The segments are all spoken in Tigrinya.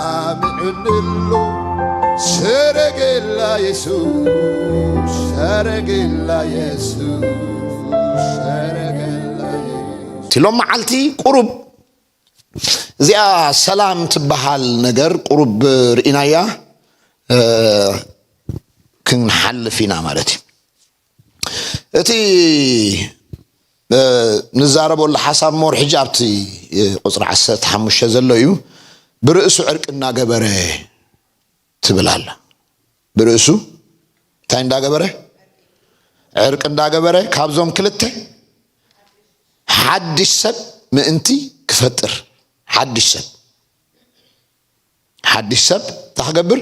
ተሰማሚዑንሉ ሰረገላ የሱስ ሰረገላ የሱስ ሰረገላ የሱስ እቲ ሎም መዓልቲ ቁሩብ እዚኣ ሰላም ትበሃል ነገር ቁሩብ ርኢናያ እ፣ ክንሓልፍ ኢና ማለት እዩ እቲ ንዛረበሉ ሓሳብ ሞር ሕጂ ኣብቲ ቁፅሪ ዓሰርተ ሓሙሽተ ዘሎ እዩ ብርእሱ ዕርቂ እናገበረ ትብል ኣላ ብርእሱ እንታይ እንዳገበረ ዕርቂ እንዳገበረ ካብዞም ክልተ ሓድሽ ሰብ ምእንቲ ክፈጥር ሓድሽ ሰብ ሓድሽ ሰብ እንታይ ክገብር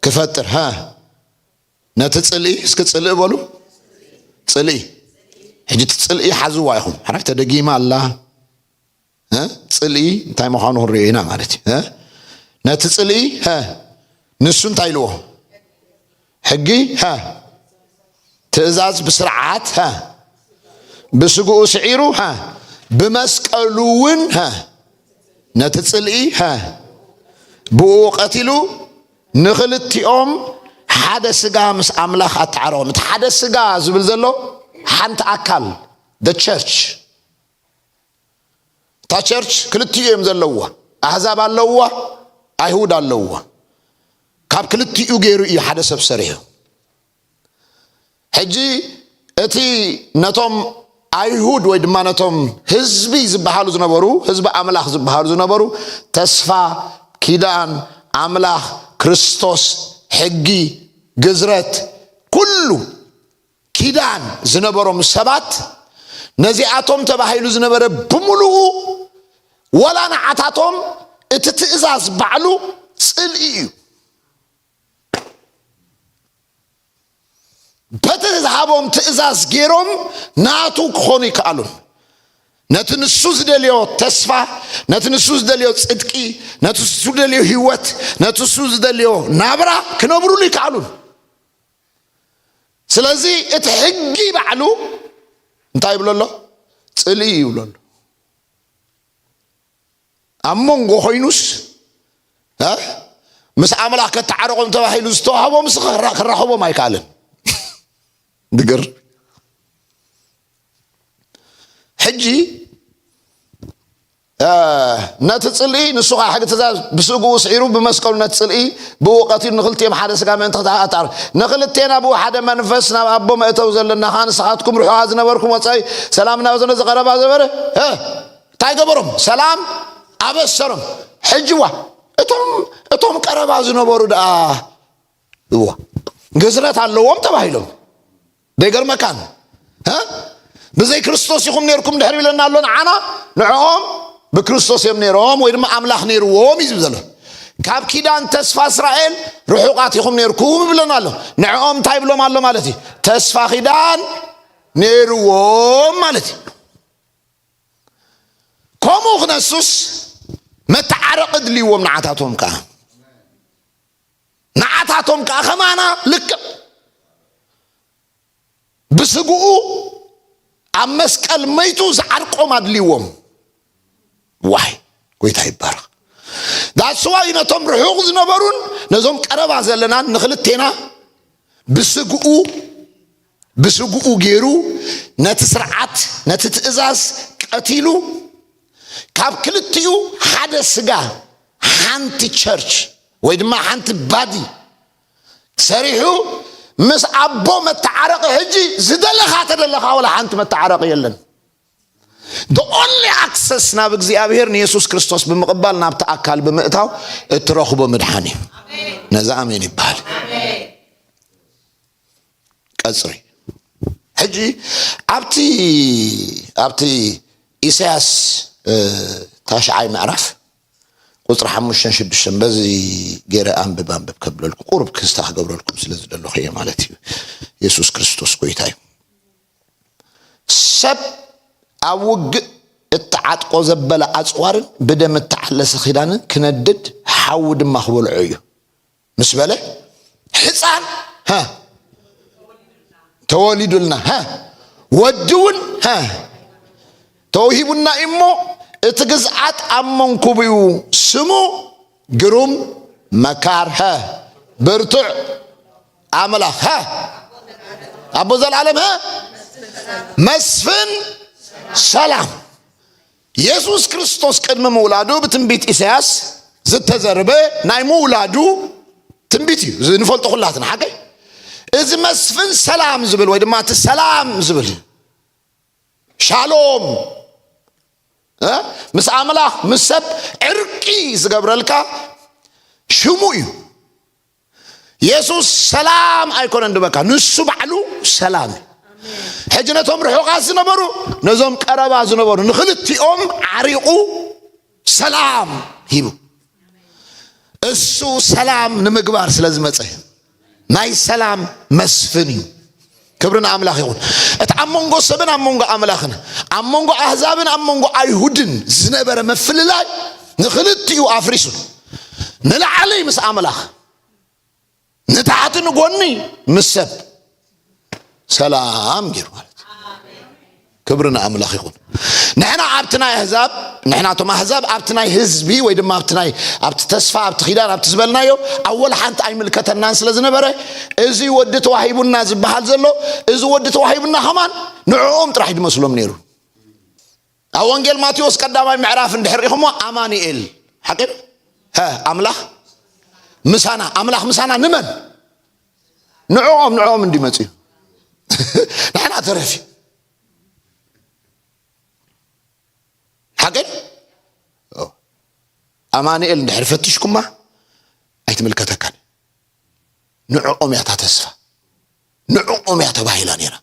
ክፈጥር ሃ ነቲ ጽልኢ እስኪ ጽልኢ በሉ ጽልኢ ሕጂ እቲ ጽልኢ ሓዝዋ ኢኹም ሓራይ ተደጊማ ኣላ ጽልኢ እንታይ ምዃኑ ክንሪኦ ኢና ማለት እዩ ነቲ ጽልኢ ንሱ እንታይ ኢልዎ ሕጊ ትእዛዝ ብስርዓት ብስግኡ ስዒሩ ብመስቀሉ እውን ነቲ ጽልኢ ብኡ ቀቲሉ ንኽልቲኦም ሓደ ስጋ ምስ ኣምላኽ ኣተዓረቖም። እቲ ሓደ ስጋ ዝብል ዘሎ ሓንቲ ኣካል the church እታ ቸርች ክልቲኡ እዮም ዘለውዋ ኣህዛብ ኣለውዋ ኣይሁድ ኣለውዋ ካብ ክልቲኡ ገይሩ እዩ ሓደ ሰብ ሰሪሑ ሕጂ እቲ ነቶም ኣይሁድ ወይ ድማ ነቶም ህዝቢ ዝበሃሉ ዝነበሩ ህዝቢ ኣምላኽ ዝበሃሉ ዝነበሩ ተስፋ ኪዳን ኣምላኽ ክርስቶስ ሕጊ ግዝረት ኩሉ ኪዳን ዝነበሮም ሰባት ነዚኣቶም ተባሂሉ ዝነበረ ብምሉኡ ወላ ንዓታቶም እቲ ትእዛዝ ባዕሉ ጽልኢ እዩ በቲ ዝሃቦም ትእዛዝ ገይሮም ናቱ ክኾኑ ይከኣሉን ነቲ ንሱ ዝደልዮ ተስፋ ነቲ ንሱ ዝደልዮ ጽድቂ ነቲ ንሱ ዝደልዮ ህይወት ነቲ ንሱ ዝደልዮ ናብራ ክነብሩሉ ይከኣሉን ስለዚ እቲ ሕጊ ባዕሉ እንታይ ይብሎ ኣሎ ጽልኢ ይብሎ ኣሎ ኣብ መንጎ ኮይኑስ ምስ ኣምላኽ ከተዓረቆም ተባሂሉ ዝተዋህቦም ስ ክራኸቦም ኣይከኣልን ድግር ሕጂ ነቲ ፅልኢ ንሱ ከዓ ሕጊ ትእዛዝ ብስግኡ ስዒሩ ብመስቀሉ ነቲ ፅልኢ ብኡ ቀቲሉ ንክልቲኦም ሓደ ስጋ ምእንቲ ክተኣጣር ንክልቴና ብኡ ሓደ መንፈስ ናብ ኣቦ መእተው ዘለና ከዓ ንስኻትኩም ርሑቓ ዝነበርኩም ወፃኢ ሰላምና ዘነ ዝቐረባ ዘበረ እንታይ ገበሮም ሰላም ኣበሰሮም ሕጅዋ እቶም እቶም ቀረባ ዝነበሩ ደኣ እዎ ግዝረት ኣለዎም ተባሂሎም ደይገርመካን ብዘይ ክርስቶስ ኢኹም ነርኩም ድሕር ይብለና ኣሎ ንዓና ንዕኦም ብክርስቶስ እዮም ነይሮም ወይ ድማ ኣምላኽ ነይርዎም እዩ ዝብ ዘሎ ካብ ኪዳን ተስፋ እስራኤል ርሑቓት ኢኹም ነርኩም ይብለና ኣሎ ንዕኦም እንታይ ይብሎም ኣሎ ማለት እዩ ተስፋ ኪዳን ነይርዎም ማለት እዩ ከምኡ ክነሱስ መተዓረቂ ድልዎም ንዓታቶም ከዓ ንዓታቶም ከዓ ከማና ልክዕ ብስግኡ ኣብ መስቀል መይቱ ዝዓርቆም ኣድልዎም ዋይ ጎይታ ይባረኽ ዳስዋይ ነቶም ርሑቕ ዝነበሩን ነዞም ቀረባ ዘለናን ንክልቴና ብስግኡ ብስግኡ ገይሩ ነቲ ስርዓት ነቲ ትእዛዝ ቀቲሉ ካብ ክልቲኡ ሓደ ስጋ ሓንቲ ቸርች ወይ ድማ ሓንቲ ባዲ ሰሪሑ ምስ ኣቦ መተዓረቂ ሕጂ ዝደለኻ ተደለኻ ወላ ሓንቲ መተዓረቂ የለን the only access ናብ እግዚኣብሔር ንየሱስ ክርስቶስ ብምቕባል ናብቲ ኣካል ብምእታው እትረኽቦ ምድሓን እዩ ነዚ ኣሜን ይበሃል ቀጽሪ ሕጂ ኣብቲ ኣብቲ ኢሳያስ ታሽዓይ ምዕራፍ ቁፅሪ ሓሙሽተን ሽዱሽተን በዚ ገይረ ኣንብብ ኣንብብ ከብለልኩ ቁርብ ክስታ ክገብረልኩም ስለ ዝደለኹ እየ ማለት እዩ የሱስ ክርስቶስ ጎይታ እዩ ሰብ ኣብ ውግእ እተዓጥቆ ዘበለ ኣፅዋርን ብደም እተዓለሰ ኪዳንን ክነድድ ሓዊ ድማ ክበልዖ እዩ ምስ በለ ሕፃን ተወሊዱልና ወዲ እውን ተውሂቡና እሞ እቲ ግዝዓት ኣብ መንኩብኡ ስሙ ግሩም መካር ብርቱዕ ኣምላኽ ኣቦ ዘልዓለም መስፍን ሰላም የሱስ ክርስቶስ ቅድሚ ምውላዱ ብትንቢት ኢሳያስ ዝተዘርበ ናይ ምውላዱ ትንቢት እዩ እዚ ንፈልጦ ኩላትና ሓቀይ እዚ መስፍን ሰላም ዝብል ወይ ድማ እቲ ሰላም ዝብል ሻሎም ምስ ኣምላኽ ምስ ሰብ ዕርቂ ዝገብረልካ ሽሙ እዩ የሱስ ሰላም ኣይኮነን ድበካ ንሱ ባዕሉ ሰላም እዩ ሕጂ ነቶም ርሑቓት ዝነበሩ ነዞም ቀረባ ዝነበሩ ንክልቲኦም ዓሪቑ ሰላም ሂቡ እሱ ሰላም ንምግባር ስለ ዝመፀ ናይ ሰላም መስፍን እዩ ክብሪ ንኣምላኽ ይኹን። እቲ ኣብ መንጎ ሰብን ኣብ መንጎ ኣምላኽን ኣብ መንጎ ኣህዛብን ኣብ መንጎ ኣይሁድን ዝነበረ ምፍልላይ ንኽልቲኡ ኣፍሪሱ ንላዕሊ ምስ ኣምላኽ ንታሕቲ ንጎኒ ምስ ሰብ ሰላም ገይሩ ማለት ክብሪ ንኣምላኽ ይኹን ንሕና ኣብቲ ናይ ኣህዛብ ንሕና እቶም ኣህዛብ ኣብቲ ናይ ህዝቢ ወይ ድማ ኣብቲ ናይ ኣብቲ ተስፋ ኣብቲ ኪዳን ኣብቲ ዝበልናዮ ኣብ ወላ ሓንቲ ኣይምልከተናን ስለ ዝነበረ እዚ ወዲ ተዋሂቡና ዝበሃል ዘሎ እዚ ወዲ ተዋሂቡና ከማን ንዕኦም ጥራሕ ድመስሎም ነይሩ ኣብ ወንጌል ማቴዎስ ቀዳማይ ምዕራፍ እንድሕር ኢኹሞ ኣማኒኤል ሓቂ ኣምላኽ ምሳና ኣምላኽ ምሳና ንመን ንዕኦም ንዕኦም እንዲ መፅዩ ንሕና ተረፊ ሓቀይ ኣማንኤል እንድሕር ፈትሽኩማ ኣይትምልከተካን ንዕኦም እያ እታ ተስፋ ንዕኦም እያ ተባሂላ ነይራ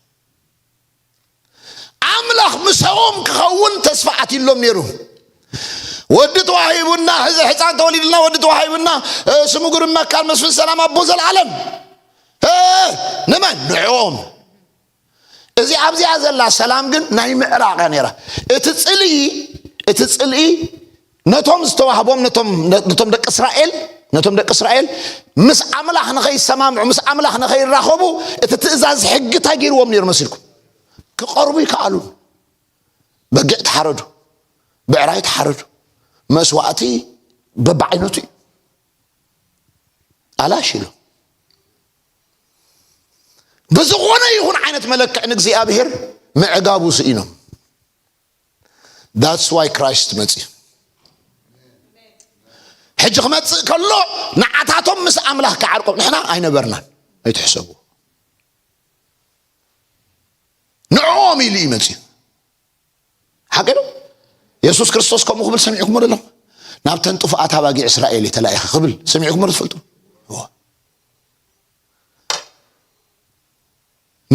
ኣምላኽ ምሰኦም ክኸውን ተስፋ ኣትሎም ነይሩ ወዲ ተዋሂቡና ሕዚ ሕፃን ተወሊድልና ወዲ ተዋሂቡና ስሙ ግሩም መካን መስፍን ሰላም ኣቦ ዘለዓለም ንመን ንዕኦም እዚ ኣብዚኣ ዘላ ሰላም ግን ናይ ምዕራቕ እያ ነይራ እቲ ፅልኢ እቲ ፅልኢ ነቶም ዝተዋህቦም ነቶም ነቶም ደቂ እስራኤል ነቶም ደቂ እስራኤል ምስ ኣምላኽ ንኸይሰማምዑ ምስ ኣምላኽ ንኸይራኸቡ እቲ ትእዛዝ ሕጊ እንታይ ገይርዎም ነይሩ መሲልኩም ክቐርቡ ይከኣሉ በጊዕ ተሓረዱ ብዕራይ ተሓረዱ መስዋእቲ በብዓይነቱ እዩ ኣላሽ ኢሉ ብዝኾነ ይኹን ዓይነት መለክዕ ንእግዚኣብሔር ምዕጋቡ ስኢኖም ዳትስ ዋይ ክራይስት መፅዩ ሕጂ ክመፅእ ከሎ ንዓታቶም ምስ ኣምላኽ ክዓርቆም ንሕና ኣይነበርናን ኣይትሕሰቡ ንዕኦም ኢሉ እዩ መፅዩ ሓቂ ዶ የሱስ ክርስቶስ ከምኡ ክብል ሰሚዕኩሞ ደሎ ናብተን ጥፉኣት ኣባጊዕ እስራኤል እዩ ተላኢኸ ክብል ሰሚዕኩሞ ዶ ትፈልጡ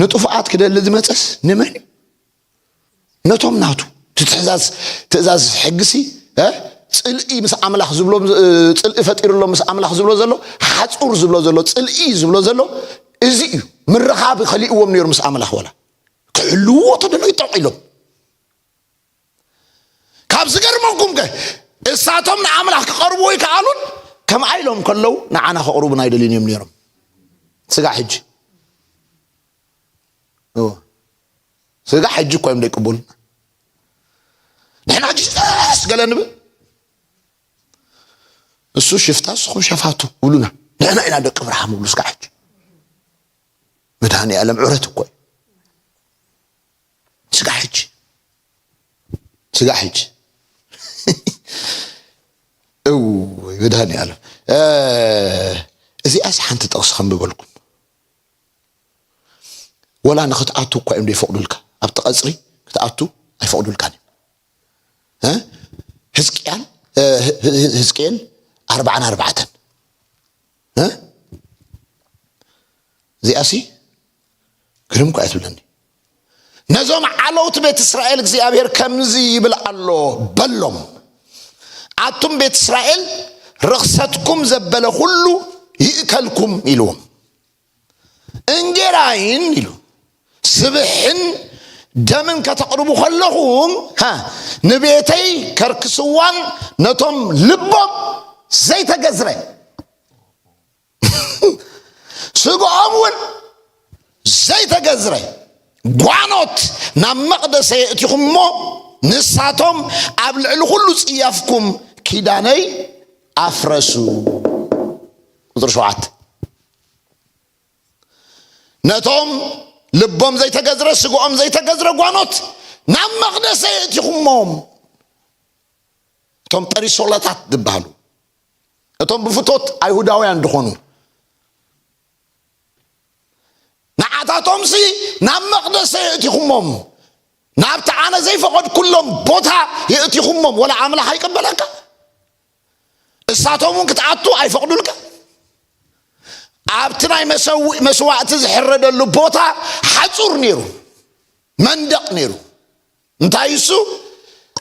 ንጥፉኣት ክደሊ ዝመፀስ ንመን እዩ ነቶም ናቱ ትትሕዛዝ ትእዛዝ ሕግሲ ፅልኢ ምስ ኣምላኽ ዝብሎ ፅልኢ ፈጢሩሎ ምስ ኣምላኽ ዝብሎ ዘሎ ሓፁር ዝብሎ ዘሎ ፅልኢ ዝብሎ ዘሎ እዚ እዩ ምርኻብ ከሊእዎም ነይሩ ምስ ኣምላኽ ወላ ክሕልውዎ ተደሎ ይጠቕ ኢሎም ካብ ዝገርመኩም ከ እሳቶም ንኣምላኽ ክቐርብዎ ይከኣሉን ከምኣ ኢሎም ከለዉ ንዓና ከቕርቡና ኣይደልዩን እዮም ነይሮም ስጋዕ ሕጂ ስጋ ሕጂ እኳ እዮም ዘይቅበሉና ንሕና ሕጂ ስተስ ገለ ንብል እሱ ሽፍታ ንስኹም ሸፋቱ ብሉና ንሕና ኢና ደቂ ብርሃም ብሉ ስጋ ሕጂ መድሃኒ ዓለም ዕረት እኮ እዩ ስጋ ሕጂ ስጋ ሕጂ እው መድሃኒ ዓለም እዚኣስ ሓንቲ ጠቕሲ ከምብበልኩም ወላ ንክትኣቱ እኳ እዮም ዘይፈቕዱልካ ኣብቲ ቀፅሪ ክትኣቱ ኣይፈቕዱልካን እዮም ህዝቅያን ህዝቅኤል ኣርባዓን ኣርባዕተን እዚኣሲ ግርም እኳ እያ ትብለኒ ነዞም ዓለውቲ ቤት እስራኤል እግዚኣብሔር ከምዚ ይብል ኣሎ በሎም ኣቱም ቤት እስራኤል ርኽሰትኩም ዘበለ ዅሉ ይእከልኩም ኢልዎም እንጌራይን ኢሉ ስብሕን ደምን ከተቕርቡ ከለኹም ንቤተይ ከርክስዋን ነቶም ልቦም ዘይተገዝረ ስግኦም እውን ዘይተገዝረ ጓኖት ናብ መቕደሰ የእቲኹም እሞ ንሳቶም ኣብ ልዕሊ ኩሉ ጽያፍኩም ኪዳነይ ኣፍረሱ ቁፅሪ ሸውዓተ ነቶም ልቦም ዘይተገዝረ ስግኦም ዘይተገዝረ ጓኖት ናብ መቕደሰ የእቲኹሞም እቶም ጰሪሶላታት ዝበሃሉ እቶም ብፍቶት ኣይሁዳውያን ዝኾኑ ንዓታቶምሲ ናብ መቕደሰ የእቲኹሞም ናብቲ ኣነ ዘይፈቐድኩሎም ቦታ የእቲኹሞም ወላ ኣምላኽ ኣይቀበለካ እሳቶም እውን ክትኣቱ ኣይፈቕዱልካ ኣብቲ ናይ መሰውእ መስዋእቲ ዝሕረደሉ ቦታ ሓፁር ነይሩ መንደቕ ነይሩ እንታይ እሱ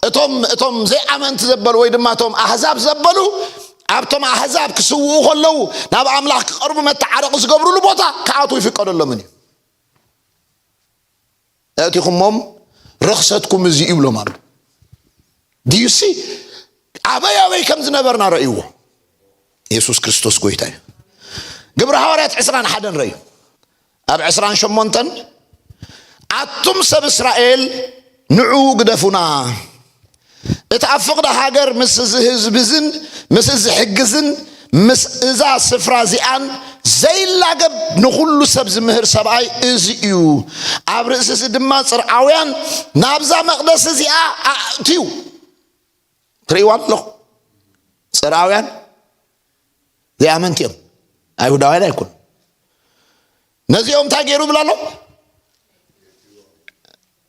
እቶም እቶም ዘይኣመንቲ ዘበሉ ወይ ድማ እቶም ኣህዛብ ዘበሉ ኣብቶም ኣህዛብ ክስውኡ ከለዉ ናብ ኣምላኽ ክቐርቡ መተዓረቂ ዝገብርሉ ቦታ ክኣትዉ ይፍቀደሎምን እዩ ነእቲኹሞም ርኽሰትኩም እዚ ይብሎም ኣሎ ድዩሲ ኣበይ ኣበይ ከም ዝነበርና ረእይዎ የሱስ ክርስቶስ ጎይታ እዩ ግብረ ሃዋርያት ዕስራን ሓደን ረእዩ ኣብ ዕስራን ሸሞንተን ኣቱም ሰብ እስራኤል ንዑ ግደፉና እቲ ኣብ ፍቕዲ ሃገር ምስ እዚ ህዝብዝን ምስ እዚ ሕግዝን ምስ እዛ ስፍራ እዚኣን ዘይላገብ ንኹሉ ሰብ ዝምህር ሰብኣይ እዚ እዩ ኣብ ርእሲ እዚ ድማ ፅርዓውያን ናብዛ መቕደስ እዚኣ ኣእትዩ ትርእይዋ ኣለኹ ፅርዓውያን ዘይኣመንቲ እዮም ኣይሁዳውያን ኣይኮኑ ነዚኦም እንታይ ገይሩ ይብላ ኣሎ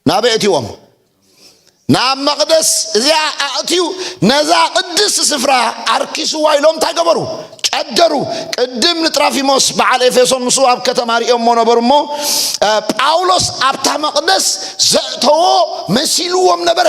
ናበይ እትዎም ናብ መቕደስ እዚኣ ኣእትዩ ነዛ ቅድስ ስፍራ ኣርኪስዋ ኢሎም እንታይ ገበሩ ጨደሩ ቅድም ንጥራፊሞስ በዓል ኤፌሶን ምስ ኣብ ከተማ ሪኦሞ ነበሩ እሞ ጳውሎስ ኣብታ መቕደስ ዘእተዎ መሲልዎም ነበረ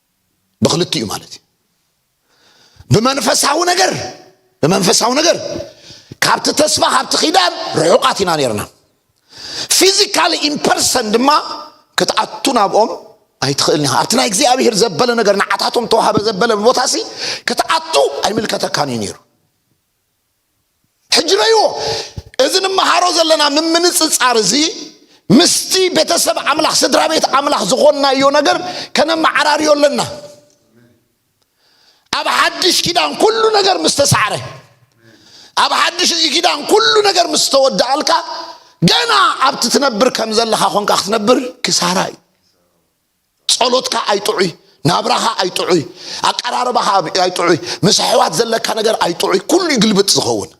ብክልቲኡ ማለት እዩ ብመንፈሳዊ ነገር ብመንፈሳዊ ነገር ካብቲ ተስፋ ካብቲ ኪዳን ርሑቃት ኢና ነርና ፊዚካሊ ኢምፐርሰን ድማ ክትኣቱ ናብኦም ኣይትኽእልን ኢኻ ኣብቲ ናይ እግዚኣብሄር ዘበለ ነገር ንዓታቶም ተዋሃበ ዘበለ ቦታ ሲ ክትኣቱ ኣይምልከተካን እዩ ነይሩ ሕጂ ረይዎ እዚ ንመሃሮ ዘለና ምምንጽጻር እዚ ምስቲ ቤተሰብ ኣምላኽ ስድራ ቤት ኣምላኽ ዝኾንናዮ ነገር ከነመዓራርዮ ኣለና ኣብ ሓድሽ ኪዳን ኩሉ ነገር ምስ ተሳዕረ ኣብ ሓድሽ እዚ ኪዳን ኩሉ ነገር ምስ ተወዳኣልካ ገና ኣብቲ ትነብር ከም ዘለኻ ኮንካ ክትነብር ክሳራ እዩ ጸሎትካ ኣይጥዑይ ናብራኻ ኣይጥዑይ ኣቀራርባኻ ኣይጥዑይ ምስ ኣሕዋት ዘለካ ነገር ኣይጥዑይ ኩሉ እዩ ግልብጥ ዝኸውን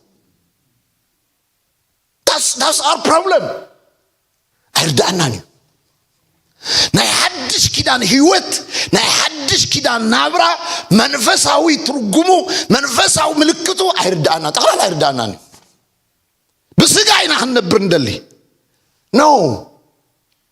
ዳስ ኣር ፕሮብለም ኣይርዳእናን እዩ ናይ ሓድሽ ኪዳን ህይወት ናይ ሓድሽ ኪዳን ናብራ መንፈሳዊ ትርጉሙ መንፈሳዊ ምልክቱ ኣይርዳእና ጠቕላላ ኣይርዳእናን እዩ ብስጋ ኢና ክንነብር ንደሊ ኖ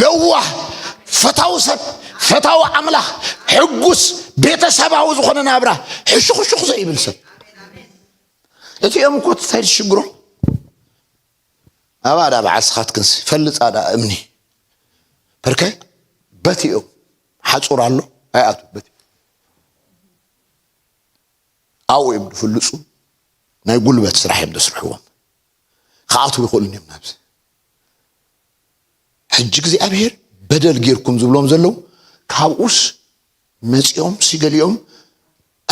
ለዋህ ፈታዊ ሰብ ፈታዊ ኣምላኽ ሕጉስ ቤተሰባዊ ዝኾነ ናብራ ሕሹኽሹኽ ዘይብል ሰብ እቲኦም እኮ ትታይድ ሽግሮ ኣብኣ ዳ በዓል ስኻትክንሲ ፈልፃ ዳ እምኒ በርከ በት እዮም ሓፁር ኣሎ ኣይኣቱ በት ኣብኡ እዮም ዝፍልፁ ናይ ጉልበት ስራሕ እዮም ዘስርሕዎም ክኣትዉ ይኽእሉን እዮም ናብዚ ሕጂ እግዚኣብሄር በደል ጌርኩም ዝብሎም ዘለዉ ካብኡስ መጺኦም ሲ ገሊኦም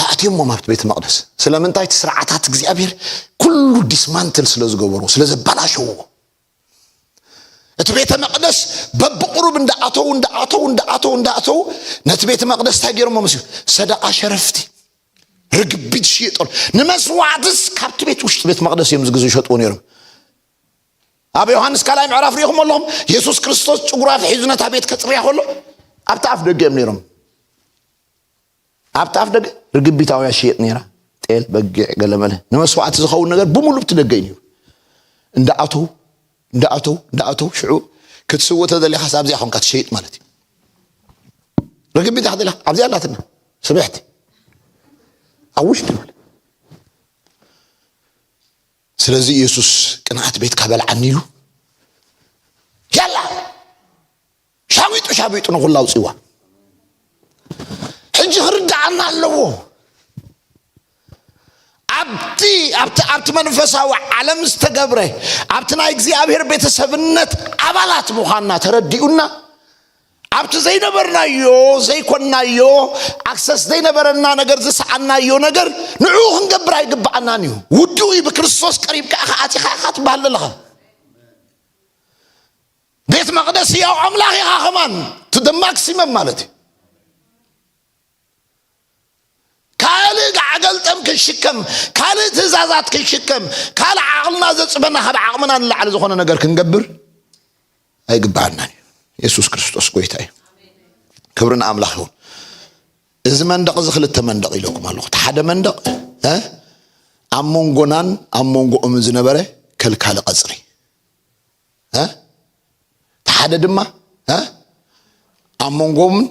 ኣእትዮሞም ኣብቲ ቤተ መቕደስ ስለምንታይ እቲ ስርዓታት እግዚኣብሄር ኩሉ ዲስማንትል ስለ ዝገበሮ ስለ ዘበላሸዎ እቲ ቤተ መቕደስ በብቕሩብ እንዳኣተዉ እንዳኣተዉ እንዳኣተዉ እንዳኣተዉ ነቲ ቤተ መቕደስ እንታይ ገይሮሞ መስዩ ሰደቓ ሸረፍቲ ርግቢት ሽየጠሉ ንመስዋዕትስ ካብቲ ቤት ውሽጢ ቤት መቕደስ እዮም ዝግዝ ይሸጥዎ ነይሮም ኣብ ዮሃንስ ካልኣይ ምዕራፍ ሪኢኹም ኣለኹም የሱስ ክርስቶስ ጭጉሩ ኣፍሒዙ ነታ ቤት ከፅርያ ከሎ ኣብቲ ኣፍ ደገ እዮም ነይሮም ኣብቲ ኣፍ ደገ ርግቢታውያ ሽየጥ ነይራ ጤል በጊዕ ገለመለ ንመስዋዕቲ ዝኸውን ነገር ብምሉ ብቲ ደገ እዩ ነይሩ እንዳኣተው እንዳኣተው እንዳኣተው ሽዑ ክትስውእ ተደሊኻ ኣብዚኣ ኮንካ ትሸይጥ ማለት እዩ ርግቢታ ክትደሊኻ ኣብዚኣ ኣላትና ስብሕቲ ኣብ ውሽጢ በለ ስለዚ ኢየሱስ ቅንዓት ቤትካ በልዓኒ ኢሉ ያላ ሻዊጡ ሻዊጡ ንኹላ ኣውፅዋ ሕጂ ክርድኣና ኣለዎ ኣብቲ ኣብቲ ኣብቲ መንፈሳዊ ዓለም ዝተገብረ ኣብቲ ናይ እግዚኣብሔር ቤተሰብነት ኣባላት ምዃንና ተረዲኡና ኣብቲ ዘይነበርናዮ ዘይኮንናዮ ኣክሰስ ዘይነበረና ነገር ዝሰኣናዮ ነገር ንዕኡ ክንገብር ኣይግባኣናን እዩ ውድኡ እዩ ብክርስቶስ ቀሪብካ ኢኻ ኣቲኻ ኢኻ ትበሃል ኣለኻ ቤት መቅደስ ያው ኣምላኽ ኢኻ ከማን ቱ ማክሲመም ማለት እዩ ካልእ ጋዕገልጠም ክንሽከም ካልእ ትእዛዛት ክንሽከም ካልእ ዓቕልና ዘፅበና ካብ ዓቕምና ንላዕሊ ዝኾነ ነገር ክንገብር ኣይግብኣናን እዩ የሱስ ክርስቶስ ጎይታ እዩ ክብሪ ንኣምላኽ ይኹን እዚ መንደቕ እዚ ክልተ መንደቕ ኢለኩም ኣለኹ እቲ ሓደ መንደቕ እ ኣብ መንጎናን ኣብ መንጎኦምን ዝነበረ ከልካሊ ቀፅሪ እ እቲ ሓደ ድማ እ ኣብ መንጎምን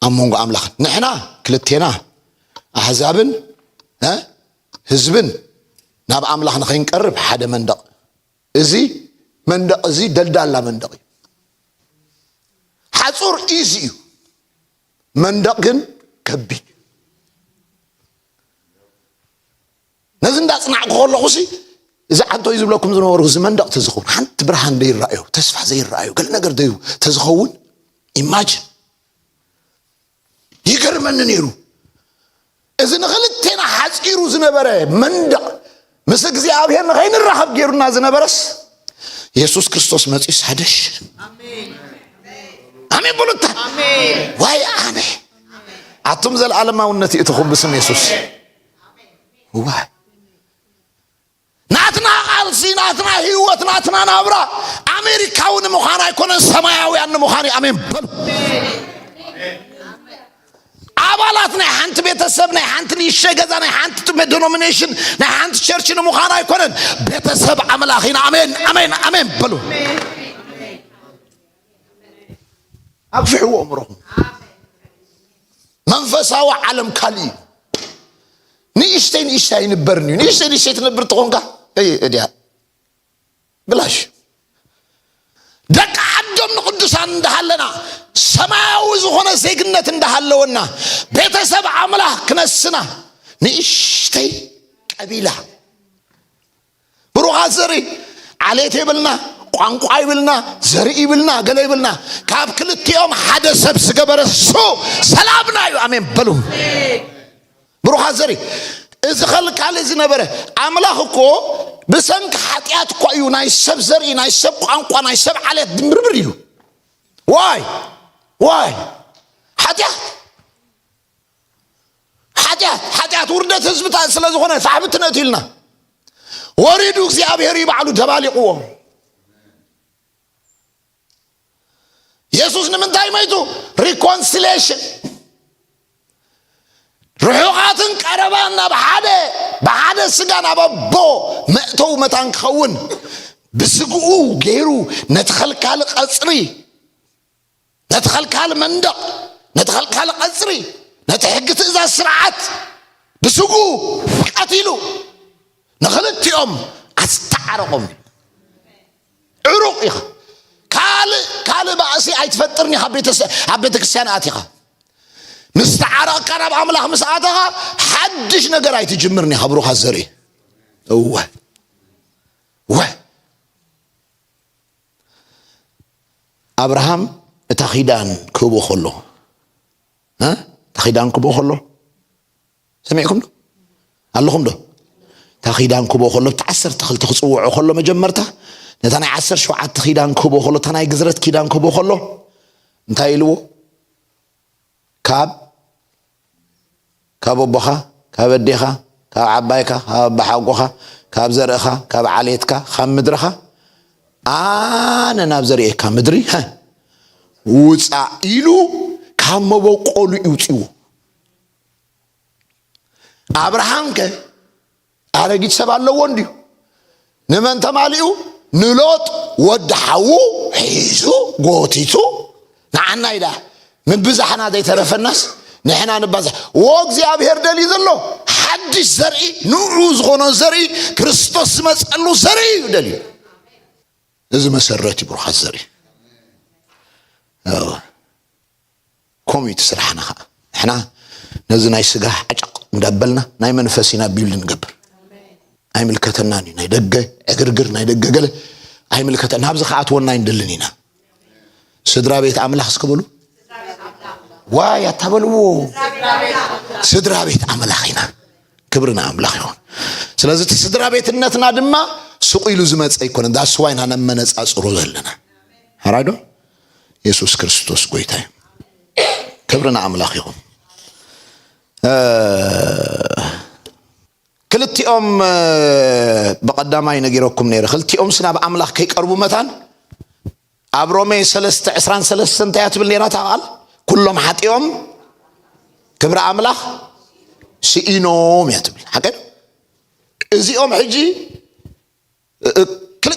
ኣብ መንጎ ኣምላኽን ንሕና ክልቴና ኣሕዛብን እ ህዝብን ናብ ኣምላኽ ንኸይንቀርብ ሓደ መንደቕ እዚ መንደቕ እዚ ደልዳላ መንደቕ እዩ። ሓጹር ኢዚ እዩ፣ መንደቕ ግን ከቢድ እዩ። ነዚ እንዳጽናዕኩ ከለኹ ሲ እዚ ዓንቶይ ዝብለኩም ዝነበርኩ እዚ መንደቕ ተዝኸውን ሓንቲ ብርሃን ዘይረኣዩ ተስፋ ዘይረኣዩ ገለ ነገር ደዩ ተዝኸውን ኢማጅን ይገርመኒ ነይሩ እዚ ንክልቴና ሓፂሩ ዝነበረ መንደቕ ምስ እግዚኣብሔር ንኸይንራኸብ ገይሩና ዝነበረስ የሱስ ክርስቶስ መፅኡ ሳደሽ ኣሜን በሉታ ዋይ ኣነ ኣቱም ዘለዓለማውነት ይእትኹም ብስም የሱስ ዋይ ናትና ቃልሲ ናትና ህይወት ናትና ናብራ ኣሜሪካዊ ንምዃን ኣይኮነን ሰማያውያን ንምዃን እዩ ኣሜን በሉ ኣባላት ናይ ሓንቲ ቤተሰብ ናይ ሓንቲ ንእሸ ገዛ ናይ ሓንቲ ዶኖሚኔሽን ናይ ሓንቲ ቸርች ንምዃን ኣይኮነን ቤተሰብ ኣምላኽ ኢና ኣሜን ኣሜን ኣሜን በሉ ኣፍሕዎ እምሮኹም መንፈሳዊ ዓለም ካልእ እዩ ንእሽተይ ንእሽተይ ኣይንበርን እዩ ንእሽተይ ንእሽተይ ትነብር ትኾንካ እድያ ብላሽ ደቂ ዓዶም ንቅዱሳን እንዳሃለና ሰማያዊ ዝኾነ ዜግነት እንዳሃለወና ቤተሰብ ኣምላኽ ክነስና ንእሽተይ ቀቢላ ብሩኻት ዘርኢ ዓሌት ይብልና ቋንቋ ይብልና ዘርኢ ይብልና ገለ ይብልና ካብ ክልቲኦም ሓደ ሰብ ዝገበረ እሱ ሰላምና እዩ ኣሜን በሉ ብሩኻት ዘርኢ እዚ ኸልካሊ እዚ ነበረ ኣምላኽ እኮ ብሰንኪ ሓጢኣት እኳ እዩ ናይ ሰብ ዘርኢ ናይ ሰብ ቋንቋ ናይ ሰብ ዓሌት ድምብርብር እዩ ዋይ ዋይ ሓጢኣት ሓጢኣት ሓጢኣት ውርደት ህዝብታት ስለ ዝኾነ ሳሕብትነት ኢልና ወሪዱ እግዚኣብሔር እዩ ባዕሉ ደባሊቕዎ የሱስ ንምንታይ መይቱ ሪኮንሲሌሽን ርሑቓትን ቀረባን ናብ ሓደ ብሓደ ስጋ ናብ ኣቦ መእተው መታን ክኸውን ብስግኡ ገይሩ ነቲ ኸልካሊ ቐፅሪ ነቲ ኸልካሊ መንደቕ ነቲ ኸልካሊ ቐጽሪ ነቲ ሕጊ ትእዛዝ ስርዓት ብስጉ ቀቲሉ ንኽልቲኦም ኣስተዓረቖም እዩ ዕሩቕ ኢኻ ካልእ ካልእ ባእሲ ኣይትፈጥርን ኢኻ ኣብ ቤተ ክርስቲያን ኣቲኻ ምስ ተዓረቕካ ናብ ኣምላኽ ምስ ኣተኻ ሓድሽ ነገር ኣይትጅምርን ኢኻ ብሩኻ ዘርኢ እወ እወ ኣብርሃም እታ ኺዳን ክህቦ ከሎ እታ ኺዳን ክህቦ ከሎ ሰሚዕኩም ዶ ኣለኹም ዶ እታ ኺዳን ክህቦ ከሎ እቲ ዓሰርተ ክልተ ክፅውዖ ከሎ መጀመርታ ነታ ናይ ዓሰር ሸውዓተ ኪዳን ክህቦ ከሎ እታ ናይ ግዝረት ኪዳን ክህቦ ከሎ እንታይ ኢልዎ ካብ ካብ ኣቦኻ፣ ካብ ኣዴኻ፣ ካብ ዓባይካ፣ ካብ ኣባሓጎኻ፣ ካብ ዘርእኻ፣ ካብ ዓሌትካ፣ ካብ ምድርኻ፣ ኣነ ናብ ዘርእየካ ምድሪ ውጻእ ኢሉ ካብ መበቆሉ እዩ ውጺዎ። ኣብርሃምከ ኣረጊት ሰብ ኣለዎ እንድዩ ንመን ተማሊኡ ንሎጥ ወዲ ሓዉ ሒዙ ጎቲቱ ንዓና ኢዳ ምብዛሕና ዘይተረፈናስ ንሕና ንባዛሕ ወ እግዚኣብሄር ደልዩ ዘሎ ሓድሽ ዘርኢ ንዑ ዝኾኖ ዘርኢ ክርስቶስ ዝመፀሉ ዘርኢ እዩ ደልዩ እዚ መሰረት እዩ ብሩኻት ዘርኢ ከምኡ እዩ እቲ ስራሕና ከዓ ንሕና ነዚ ናይ ስጋ ሓጨቕ እንዳበልና ናይ መንፈስ ኢና ቢልድ ንገብር ኣይምልከተናን እዩ ናይ ደገ ዕግርግር ናይ ደገ ገለ ኣይምልከተና ናብዚ ከኣትወና ኣይንደልን ኢና ስድራ ቤት ኣምላኽ እስክበሉ ዋይ ኣታበልዎ ስድራ ቤት ኣምላኽ ኢና ክብሪ ንኣምላኽ ይኹን ስለዚ እቲ ስድራ ቤትነትና ድማ ስቑ ኢሉ ዝመፀ ኣይኮነን ዳስዋይና ነመነፃፅሮ ዘለና ሓራዶ የሱስ ክርስቶስ ጎይታ እዩ ክብሪ ንኣምላኽ ይኹን ክልቲኦም ብቐዳማይ ነጊረኩም ነይረ ክልቲኦም ስናብ ኣምላኽ ከይቀርቡ መታን ኣብ ሮሜ 3 23 እንታይ እያ ትብል ነይራ ታቓል ኩሎም ሓጢኦም ክብሪ ኣምላኽ ስኢኖም እያ ትብል ሓቀ እዚኦም ሕጂ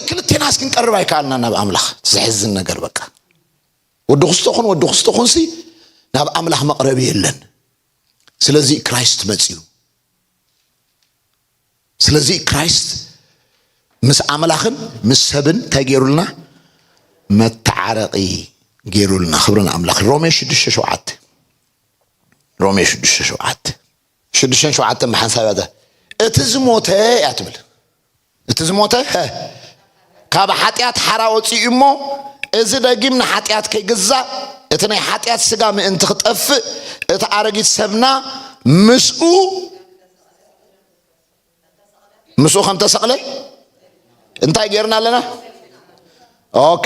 ክልቴናስ ክንቀርብ ኣይከኣልና ናብ ኣምላኽ ዘሕዝን ነገር በቃ ወዲ ክስቶ ኹን ወዲ ክስቶ ኹንሲ ናብ ኣምላኽ መቕረቢ የለን ስለዚ ክራይስት መፅዩ ስለዚ ክራይስት ምስ ኣምላኽን ምስ ሰብን እንታይ ገይሩልና መተዓረቂ ገይሩልና ክብሪ ንኣምላኽ ሮሜ ሽዱሽተ ሸውዓተ ሮሜ ሽዱሽተ ሸውዓተ ሽዱሽተን ሸውዓተን ብሓንሳብ እያ እቲ ዝሞተ እያ ትብል እቲ ዝሞተ ካብ ሓጢኣት ሓራ ወፂኡ እሞ እዚ ደጊም ንሓጢኣት ከይግዛእ እቲ ናይ ሓጢኣት ስጋ ምእንቲ ክጠፍእ እቲ ኣረጊት ሰብና ምስኡ ምስኡ ከም ተሰቕለ እንታይ ጌርና ኣለና ኦኬ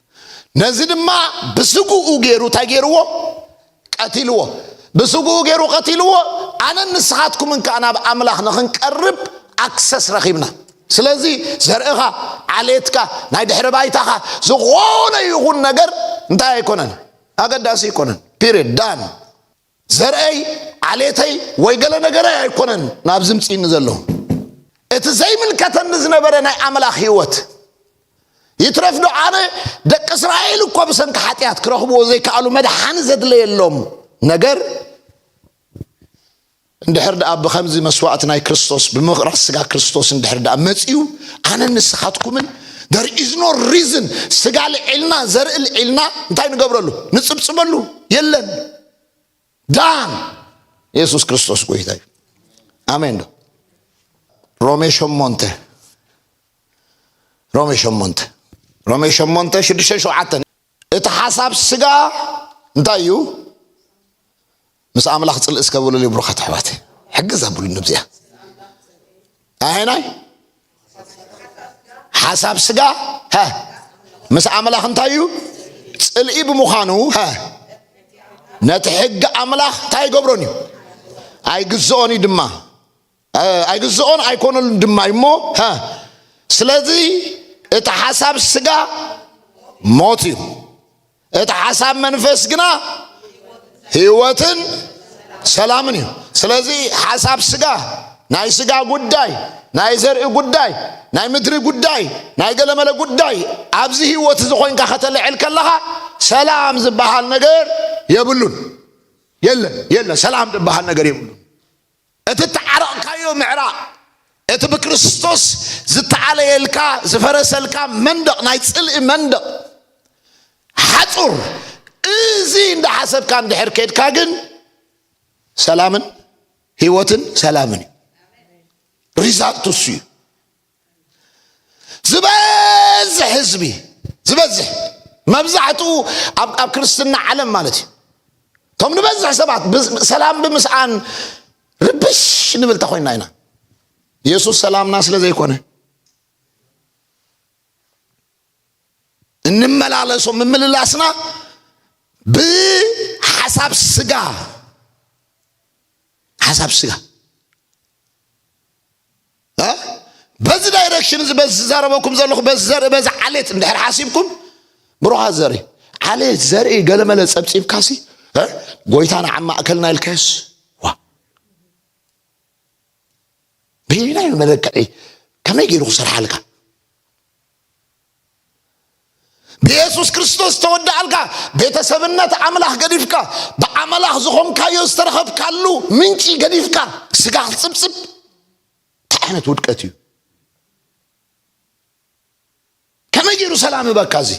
ነዚ ድማ ብስግኡ ገይሩ እንታይ ገይርዎ ቀቲልዎ ብስግኡ ገይሩ ቀቲልዎ ኣነን ንስኻትኩምን ከዓ ናብ ኣምላኽ ንኽንቀርብ ኣክሰስ ረኺብና ስለዚ ዘርእኻ ዓሌትካ ናይ ድሕሪ ባይታኻ ዝኾነ ይኹን ነገር እንታይ ኣይኮነን ኣገዳሲ ኣይኮነን ፒሪድ ዳን ዘርእይ፣ ዓሌተይ ወይ ገለ ነገረይ ኣይኮነን ናብ ዝምጽእኒ ዘሎ። እቲ ዘይምልከተኒ ዝነበረ ናይ ኣምላኽ ህይወት ይትረፍ ዶ ኣነ ደቂ እስራኤል እኮ ብሰንኪ ሓጢኣት ክረኽብዎ ዘይከኣሉ መድሓኒ ዘድለየሎም ነገር እንድሕር ደኣ ብከምዚ መስዋእቲ ናይ ክርስቶስ ብምቕራስ ስጋ ክርስቶስ እንድሕር ደኣ መፅዩ ኣነ ንስኻትኩምን ደር ኢዝ ኖ ሪዝን ስጋ ልዒልና ዘርኢ ልዒልና እንታይ ንገብረሉ ንፅብፅበሉ የለን ዳን ኢየሱስ ክርስቶስ ጎይታ እዩ ኣሜን ዶ ሮሜ ሸሞንተ ሮሜ ሸሞንተ ሮሜ ሸሞንተ ሽዱሽተ ሸውዓተ እቲ ሓሳብ ስጋ እንታይ እዩ ምስ ኣምላኽ ፅልእ እስከብሉ ብሩኻት ኣሕዋት ሕግዝ ኣብሉ ንብዚኣ ኣየናይ ሓሳብ ስጋ ሀ ምስ ኣምላኽ እንታይ እዩ ጽልኢ ብምዃኑ ሀ ነቲ ሕጊ ኣምላኽ እንታይ ይገብሮን እዩ ኣይግዝኦን እዩ ድማ ኣይግዝኦን ኣይኮነሉን ድማ እዩ እሞ ሀ ስለዚ እቲ ሓሳብ ስጋ ሞት እዩ እቲ ሓሳብ መንፈስ ግና ህይወትን ሰላምን እዩ ስለዚ ሓሳብ ስጋ ናይ ስጋ ጉዳይ ናይ ዘርኢ ጉዳይ ናይ ምድሪ ጉዳይ ናይ ገለመለ ጉዳይ ኣብዚ ህይወት እዚ ኮንካ ከተልዕል ከለኻ ሰላም ዝበሃል ነገር የብሉን የለን የለን ሰላም ዝበሃል ነገር የብሉን እቲ እተዓረቕካዮ ምዕራቕ፣ እቲ ብክርስቶስ ዝተኣለየልካ፣ ዝፈረሰልካ መንደቕ፣ ናይ ጽልኢ መንደቕ፣ ሓጹር፣ እዚ እንዳሓሰብካ እንድሕር ኬድካ ግን ሰላምን ህይወትን ሰላምን እዩ። ሪዛልቱ እሱ እዩ። ዝበዝሕ ህዝቢ ዝበዝሕ መብዛሕትኡ ኣብ ክርስትና ዓለም ማለት እዩ እቶም ንበዝሕ ሰባት ሰላም ብምስኣን ርብሽ ንብል ተኮይና ኢና ኢየሱስ ሰላምና ስለ ዘይኮነ እንመላለሶ ምምልላስና ብሓሳብ ስጋ ሓሳብ ስጋ በዚ ዳይረክሽን እዚ በዚ ዝዛረበኩም ዘለኹ በዚ ዘርኢ በዚ ዓሌት እንድሕር ሓሲብኩም ብሩኻት ዘርኢ ዓሌት ዘርኢ ገለመለ ጸብጺብካሲ ጎይታና ኣብ ማእከልና ኢልካዮስ ዋ በየናይ መለክዒ ከመይ ገይሩ ክሰርሓልካ ብየሱስ ክርስቶስ ዝተወድኣልካ ቤተሰብነት ኣምላኽ ገዲፍካ ብኣምላኽ ዝኾንካዮ ዝተረኸብካሉ ምንጪ ገዲፍካ ስጋ ክጽብጽብ እንታይ ዓይነት ውድቀት እዩ ከመይ ገይሩ ሰላም እበካ እዚ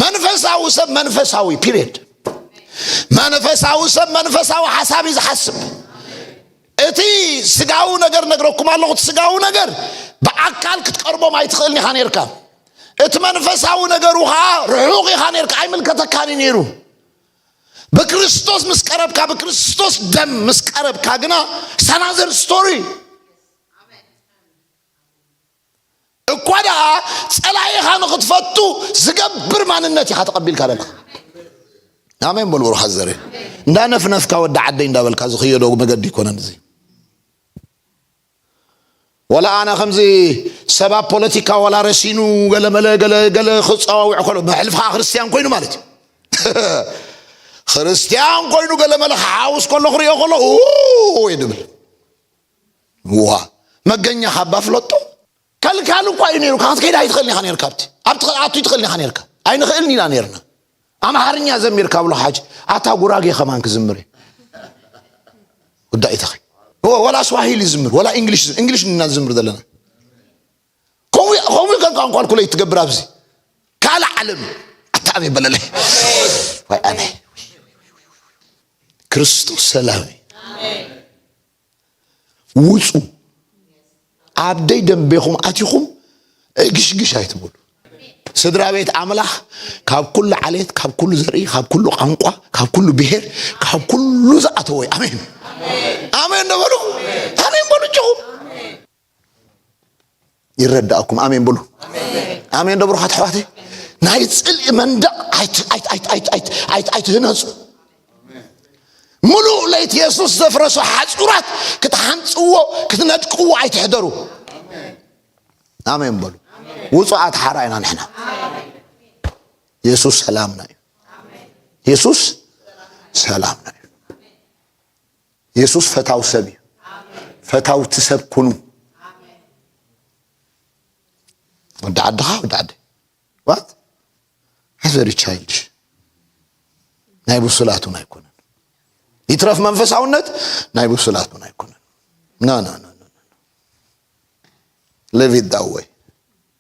መንፈሳዊ ሰብ መንፈሳዊ ፒሪድ መንፈሳዊ ሰብ መንፈሳዊ ሓሳብ እዩ ዝሓስብ እቲ ስጋዊ ነገር ነግረኩም ኣለኹ እቲ ስጋዊ ነገር ብኣካል ክትቀርቦም ኣይትኽእልን ኢኻ ነርካ እቲ መንፈሳዊ ነገሩ ከዓ ርሑቕ ኢኻ ነርካ ኣይምልከተካን እዩ ነይሩ ብክርስቶስ ምስ ቀረብካ ብክርስቶስ ደም ምስ ቀረብካ ግና ሰናዘር ስቶሪ እኳ ደኣ ጸላኢኻ ንኽትፈቱ ዝገብር ማንነት ኢኻ ተቐቢልካ ዘለኻ ኣሜን በሉ ብሩኻት ዘረ እንዳነፍነፍካ ወዲ ዓደይ እንዳበልካ ዝኽየዶ መገዲ ይኮነን እዚ ወላ ኣነ ከምዚ ሰባ ፖለቲካ ወላ ረሲኑ ገለመለ ገለ ገለ ክፀዋውዕ ከሎ መሕልፍ ከዓ ክርስትያን ኮይኑ ማለት እዩ ክርስትያን ኮይኑ ገለመለ ክሓውስ ከሎ ክሪኦ ከሎ ወይ ድብል እዋ መገኛኻ እባ ፍለጦ። ከልካሊ እኳ እዩ ነይሩካ ክትከይድ ኣይትኽእልን ኢኻ ነይርካ ኣብቲ ኣብቲ ክትኣቱ ኣይትኽእልን ኢኻ ነይርካ ኣይንኽእልን ኢና ነይርና ኣምሓርኛ ዘሚር ካብሎ ሓጅ ኣታ ጉራጌ ከማን ክዝምር እዩ ወዳኢታኺ ወላ ስዋሂሊ ዝምር ወላ እንግሊሽ እንግሊሽ እና ዝምር ዘለና ከምኡ ከምኡ ከም ቋንቋልኩለይ ትገብር ኣብዚ ካልእ ዓለም ኣታኣብ ይበለለይ ወይ ኣነ ክርስቶስ ሰላም እዩ ውፁ ኣብ ደይ ደንቤኹም ኣቲኹም ዕግሽግሽ ኣይትበሉ ስድራ ቤት ኣምላኽ ካብ ኩሉ ዓሌት ካብ ኩሉ ዘርኢ ካብ ኩሉ ቋንቋ ካብ ኩሉ ብሄር ካብ ኩሉ ዝኣተወ ኣሜን ኣሜን ነበሉ ኣሜን በሉ ጭኹም ይረዳእኩም ኣሜን ብሉ ኣሜን ደብሩኻት ኣሕዋተይ ናይ ፅልኢ መንደቅ ኣይትህነፁ ሙሉእ ለይቲ የሱስ ዘፍረሶ ሓፁራት ክትሓንፅዎ ክትነድቅዎ ኣይትሕደሩ ኣሜን በሉ ውፁዓት ሓራ ኢና ንሕና የሱስ ሰላምና እዩ የሱስ ሰላምና እዩ የሱስ ፈታው ሰብ እዩ ፈታውቲ ሰብ ኩኑ ወዲ ዓድኻ ወዲ ዓደ ዋት ቨሪ ቻይልድሽ ናይ ብሱላቱን ኣይኮነን ይትረፍ መንፈሳውነት ናይ ብሱላቱን ኣይኮነን ና ና ና ሊቭ ኢት ዳት ወይ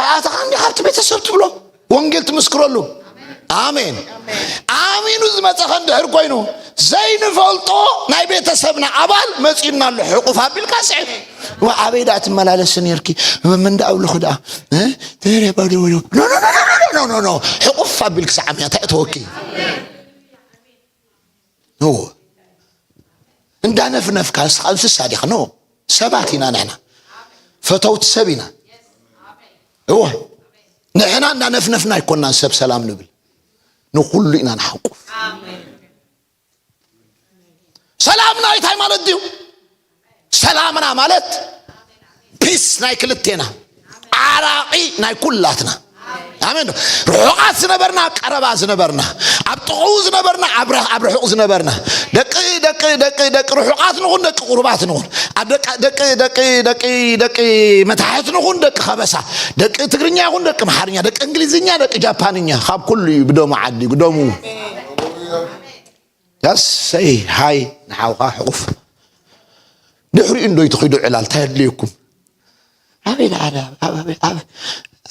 ኣይኣተኻን ዲኻ ኣብቲ ቤተሰብ ትብሎ ወንጌል ትምስክረሉ ኣሜን ኣሚኑ ዝመፀኸ እንድሕር ኮይኑ ዘይንፈልጦ ናይ ቤተሰብና ኣባል መፂኡና ኣሎ ሕቁፍ ኣቢልካ ስዕብ ኣበይ ዳኣ ትመላለሲ ነርኪ ምንዳ ኣብልኹ ዳኣ ሕቁፍ ኣቢልክ ሰዓብ እያ እንታይ እተወኪ ኖ እንዳነፍነፍካ ንስኻ እንስሳ ዲኻ ኖ ሰባት ኢና ንሕና ፈተውቲ ሰብ ኢና እዎ ንሕና እንዳነፍነፍና ኣይኮናን ሰብ ሰላም ንብል ንኩሉ ኢና ንሓቁፍ ሰላም ናይታይ ማለት ድዩ ሰላምና ማለት ፒስ ናይ ክልቴና ዓራቂ ናይ ኩላትና ኣሜን ርሑቓት ዝነበርና ኣብ ቀረባ ዝነበርና ኣብ ጥቕኡ ዝነበርና ኣብ ርሑቕ ዝነበርና ደቂ ደቂ ደቂ ደቂ ርሑቓት ንኹን ደቂ ቁርባት ንኹን ኣብ ደቂ ደቂ ደቂ ደቂ ደቂ መታሕት ንኹን ደቂ ከበሳ ደቂ ትግርኛ ይኹን ደቂ ኣምሓርኛ ደቂ እንግሊዝኛ ደቂ ጃፓንኛ ካብ ኩሉ እዩ ብደሙ ዓዲጉ ደሙ ኣሰይ ሃይ ንሓውካ ሕቁፍ ድሕሪኡ እንዶ ይትኺዱ ዕላል እንታይ ኣድልየኩም ኣበይ ደኣ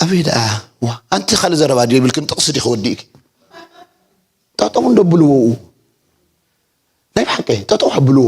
ኣበይ ደኣ ዋ ኣንቲ ካልእ ዘረባ ድዩ ይብልክን ጥቕሲ ዲኺ ወዲእኪ ጠጠው እንዶ ኣብልዎ ናይ ብሓቂ ጠጠው ኣብልዎ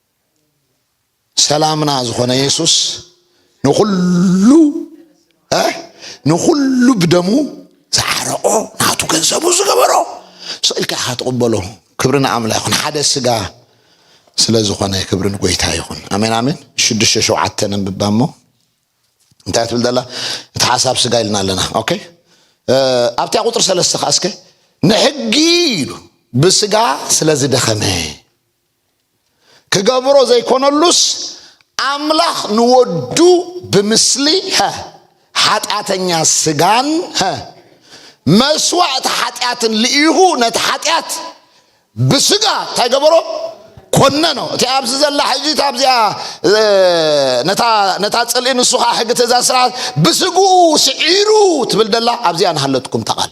ሰላምና ዝኾነ የሱስ ንኹሉ ንኹሉ ብደሙ ዝዓረቆ ናቱ ገንዘቡ ዝገበሮ ስኢልካ ኢኻ ትቕበሎ ክብሪ ንኣምላ ይኹን ሓደ ስጋ ስለ ዝኾነ ክብሪ ንጎይታ ይኹን ኣሜን ኣሜን ሽዱሽተ ሸውዓተ ነንብባ እሞ እንታይ ትብል ዘላ እቲ ሓሳብ ስጋ ኢልና ኣለና ኦኬ ኣብታ ቁጥሪ ሰለስተ ከዓ እስከ ንሕጊ ኢሉ ብስጋ ስለ ዝደኸመ ክገብሮ ዘይኮነሉስ ኣምላኽ ንወዱ ብምስሊ ሓጢኣተኛ ስጋን መስዋእቲ ሓጢኣትን ልኢኹ ነቲ ሓጢኣት ብስጋ እንታይ ገበሮ ኮነኖ እቲ ኣብዚ ዘላ ሕጂ ኣብዚኣ ነታ ፅልኢ ንሱ ከዓ ሕጊ ትእዛዝ ስርዓት ብስግኡ ስዒሩ ትብል ደላ ኣብዚኣ ንሃለትኩም ተቓል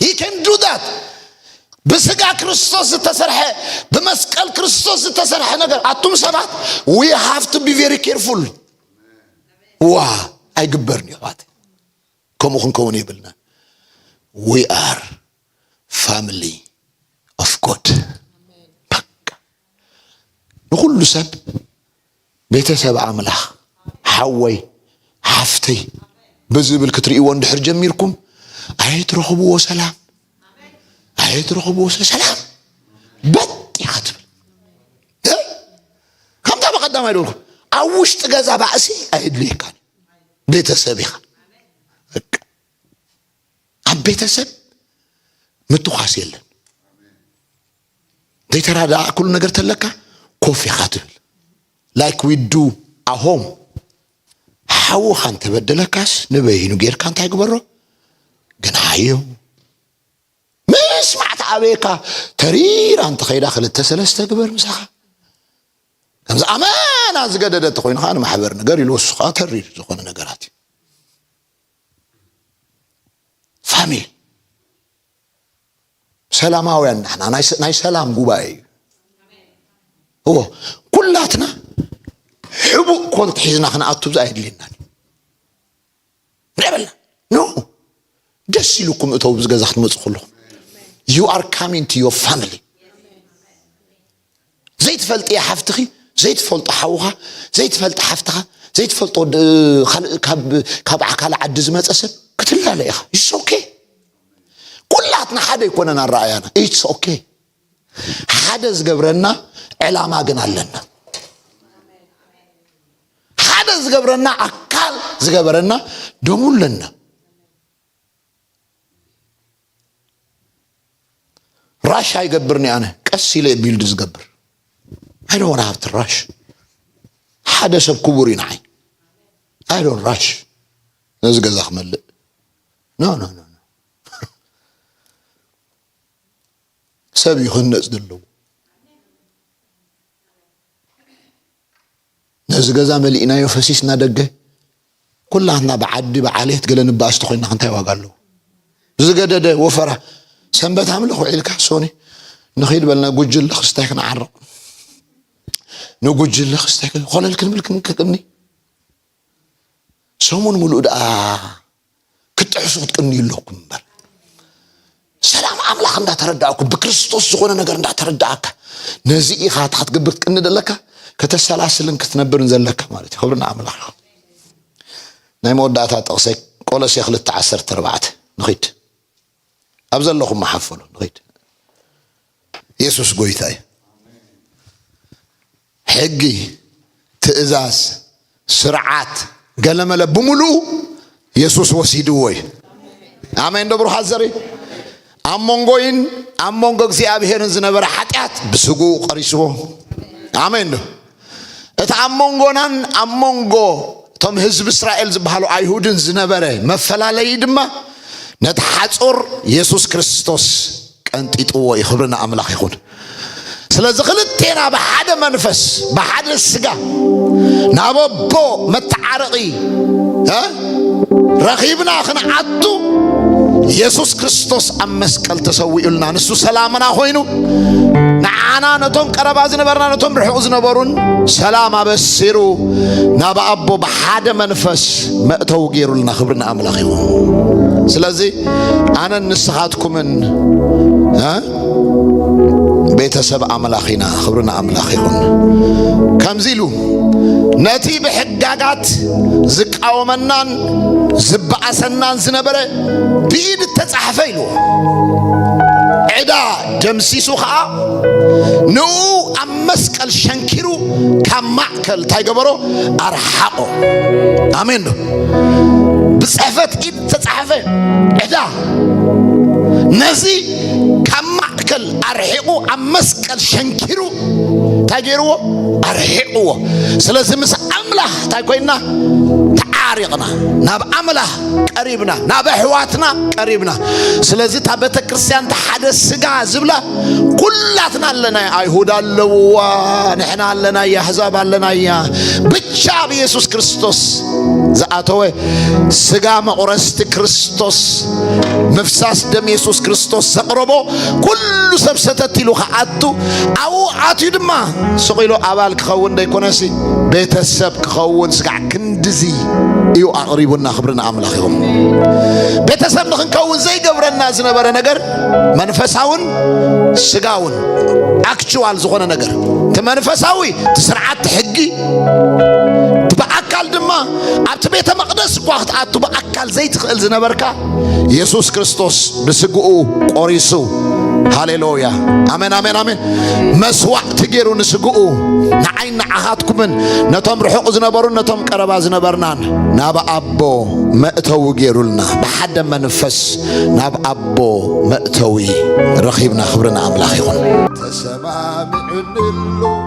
ሂ ከን ዱ ዳት ብስጋ ክርስቶስ ዝተሰርሐ ብመስቀል ክርስቶስ ዝተሰርሐ ነገር ኣቱም ሰባት ዊ ሃቭ ቱ ቢ ቨሪ ኬርፉል ዋ ኣይግበርን እዩ ኣሕዋት ከምኡ ክንከውን የብልና ዊ ኣር ፋሚሊ ኦፍ ጎድ ንኹሉ ሰብ ቤተሰብ ኣምላኽ ሓወይ ሓፍተይ ብዝብል ክትርእይዎ እንድሕር ጀሚርኩም ኣይትረኽብዎ ሰላም ኣይትረኽብዎ ሰላም በጥ ኢኻ ትብል ከምታ በቀዳማይ ደልኩም ኣብ ውሽጢ ገዛ ባእሲ ኣየድልየካን ቤተሰብ ኢኻ ኣብ ቤተሰብ ምትኳስ የለን ዘይተራዳእኩሉ ነገር ተለካ ኮፍ ኢኻ ትብል ላይክ ዊ ዱ ኣሆም ሓውኻ እንተበደለካስ ንበይኑ ጌርካ እንታይ ግበሮ ግንሓዮ ምስማዕ ተኣበየካ ተሪራ እንተኸይዳ ክልተ ሰለስተ ግበር ምሳኻ ከምዚ ኣመና ዝገደደ እንተኮይኑ ከዓ ንማሕበር ነገር ኢሉ ወሱ ከዓ ተሪር ዝኾነ ነገራት እዩ ፋሚሊ ሰላማውያን ናሕና ናይ ሰላም ጉባኤ እዩ እዎ ኩላትና ሕቡእ ኮንት ሒዝና ክንኣቱ ብዛ የድልየናን ንበልና ኖ ደስ ኢሉኩም እተው ብዚ ገዛ ክትመፁ ከለኹም ዩ ኣር ካሚን ቱ ዮ ፋሚሊ ዘይትፈልጥያ ሓፍትኺ ዘይትፈልጦ ሓውኻ ዘይትፈልጢ ሓፍትኻ ዘይትፈልጦ ካብ ካልእ ዓዲ ዝመፀ ሰብ ክትላለ ኢኻ ኢትስ ኦኬ ኩላትና ሓደ ኣይኮነን ኣረኣያና ኢትስ ኦኬ ሓደ ዝገብረና ዕላማ ግን ኣለና ሓደ ዝገብረና ኣካል ዝገበረና ደሙ ኣለና ራሽ ኣይገብርን እየ ኣነ ቀስ ኢለ እየ ቢልድ ዝገብር ኣይ ዶን ሃብቲ ራሽ ሓደ ሰብ ክቡር እዩ ንዓይ ኣይ ዶን ራሽ ነዚ ገዛ ክመልእ ኖ ኖ ኖ ሰብ እዩ ክህነፅ ዘለዎ ነዚ ገዛ መሊእናዮ ፈሲስና ደገ ኩላትና ብዓዲ ብዓሌት ገለ ንባኣስ ተኾይና እንታይ ዋጋ ኣለዎ ዝገደደ ወፈራ ሰንበት ኣምልኽ ውዒልካ ሶኒ ንኺድ በልና ጉጅለ ክስታይ ክንዓርቕ ንጉጅለ ክስታይ ኮለል ክንብል ክንቅኒ ሰሙን ሙሉእ ደኣ ክትጥሕሱ ክትቅንዩ ኣለኩም እምበር ሰላም ኣምላኽ እንዳተረዳእኩም ብክርስቶስ ዝኾነ ነገር እንዳተረዳእካ ነዚ ኢኻ እቲ ክትገብር ክትቅኒ ዘለካ ከተሰላስልን ክትነብርን ዘለካ ማለት እዩ ክብሪ ንኣምላኽ ናይ መወዳእታ ጥቕሰይ ቆሎሴ ክልተ ዓሰርተ ኣርባዕተ ንኺድ ኣብ ዘለኹም መሓፈሉ ንኸይድ የሱስ ጎይታ እዩ ሕጊ ትእዛዝ ስርዓት ገለመለ ብምሉኡ የሱስ ወሲድዎ እዩ ኣሜን ዶ ብሩሓት ዘርኢ ኣብ መንጎይን ኣብ መንጎ እግዚኣብሄርን ዝነበረ ሓጢኣት ብስግኡ ቀሪስዎ ኣሜን ዶ እቲ ኣብ መንጎናን ኣብ መንጎ እቶም ህዝቢ እስራኤል ዝበሃሉ ኣይሁድን ዝነበረ መፈላለዪ ድማ ነቲ ሓፁር የሱስ ክርስቶስ ቀንጢጥዎ እዩ። ክብሪ ንኣምላኽ ይኹን። ስለዚ ክልቴና ብሓደ መንፈስ ብሓደ ስጋ ናብ ኣቦ መተዓረቒ ረኺብና ክንዓቱ ኢየሱስ ክርስቶስ ኣብ መስቀል ተሰዊኡልና ንሱ ሰላምና ኮይኑ ንዓና ነቶም ቀረባ ዝነበርና ነቶም ርሑቕ ዝነበሩን ሰላም ኣበሲሩ ናብ ኣቦ ብሓደ መንፈስ መእተው ገይሩልና ክብሪ ንኣምላኽ ይኹን ስለዚ ኣነን ንስኻትኩምን ቤተሰብ ኣምላኽ ኢና ክብሪ ንኣምላኽ ይኹን ከምዚ ኢሉ ነቲ ብሕጋጋት ዝቃወመናን ዝበኣሰናን ዝነበረ ብኢድ እተጻሕፈ ኢሉ ዕዳ ደምሲሱ ኸዓ ንኡ ኣብ መስቀል ሸንኪሩ ካብ ማእከል እንታይ ገበሮ ኣርሓቆ ኣሜን ዶ ብጽሕፈት ኢድ ዝተጻሕፈ ዕዳ ነዚ ካብ ማእከል ኣርሒቑ ኣብ መስቀል ሸንኪሩ እንታይ ገይርዎ ኣርሒቕዎ ስለዚ ምስ ኣምላኽ እንታይ ኮይና ተዓሪቕና ናብ ኣምላኽ ቀሪብና ናብ ኣሕዋትና ቀሪብና ስለዚ እታ ቤተ ክርስቲያን እታ ሓደ ስጋ ዝብላ ኩላትና ኣለና ኣይሁድ ኣለውዋ ንሕና ኣለና ኣሕዛብ ኣለና እያ ብቻ ብየሱስ ክርስቶስ ዝኣተወ ስጋ መቑረስቲ ክርስቶስ ምፍሳስ ደም የሱስ ክርስቶስ ዘቕረቦ ኩሉ ሰብ ሰተት ኢሉ ክኣቱ ኣብኡ ኣትዩ ድማ ስቕ ኢሉ ኣባል ክኸውን ዘይኮነሲ ቤተሰብ ክኸውን ስጋዕ ክንድዚ እዩ ኣቕሪቡና ክብሪ ንኣምላኽ ይኹም ቤተሰብ ንክንከውን ዘይገብረና ዝነበረ ነገር መንፈሳውን ስጋውን ኣክቹዋል ዝኾነ ነገር እቲ መንፈሳዊ እቲ ስርዓት ሕጊ እቲ ብኣካል ድማ ኣብቲ ቤተ መቕደስ እኳ ክትኣቱ ብኣካል ዘይትኽእል ዝነበርካ የሱስ ክርስቶስ ብስግኡ ቆሪሱ ሃሌሉያ ኣሜን ኣሜን ኣሜን መስዋዕቲ ገይሩ ንስግኡ ንዓይን ንዓኻትኩምን ነቶም ርሑቕ ዝነበሩን ነቶም ቀረባ ዝነበርናን ናብ ኣቦ መእተዊ ገይሩልና ብሓደ መንፈስ ናብ ኣቦ መእተዊ ረኺብና ክብሪ ንኣምላኽ ይኹን ተሰማሚዑ ንሉ